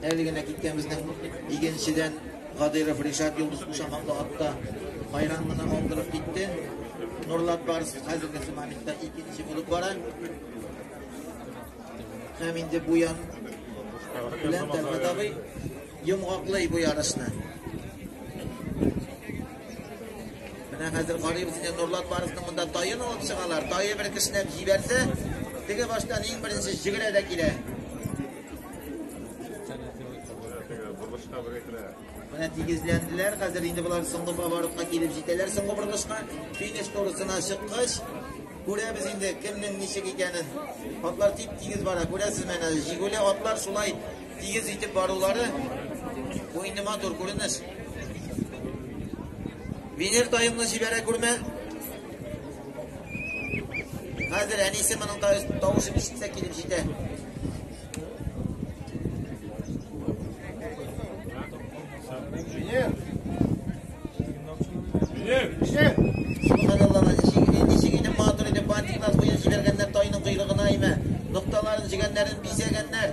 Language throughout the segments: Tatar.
Әле генә киткән безнең игенчедән Гадиров Ришат Йолдыз Кушаматлы атта байрам гына алдырып китте. Нурлат Барс хәзерге моментта икенче булып бара. Һәм инде бу ян белән Тәрбәт абый йомгаклый бу ярышны. Менә хәзер карыйбыз инде Нурлат барысының монда таен алып чыгалар. Тае бер кешенәп җибәрсә, теге баштан иң беренче җигелә дә килә. Менә тигезләнделәр. Хәзер инде болар соңгы поворотка килеп җитәләр соңгы борылышка. Финиш турысына чыккач, күрәбез инде кемнең ничек икәнен. Атлар тип-тигез бара. Күрәсез менә, җигүле атлар шулай Тигез итеп барулары бу инде матур күренеш. Венер тайымны җибәрә күрмә. Хәзер әнисе моның тавышын ишетсә килеп җитә. Венер! Венер! Венер! Җигәннәр тайның койрыгына имә, нокталарын җигәннәрен бизәгәннәр.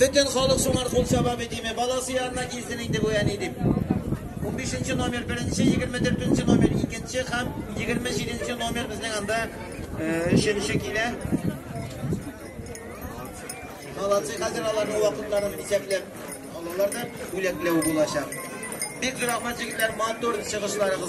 Бөтен халык шуңар кул чаба бит, диме? Баласы янына килсен инде бу әни, дип. Унбишенче номер, беренче, егерме дүртенче номер, икенче һәм егерме җиденче номер безнең анда өченче килә. Молодцы, хәзер аларның вакытларын исәпләп алалар да бүләкләү булачак. Бик зур рәхмәт, егетләр, матур чыгышларыгыз.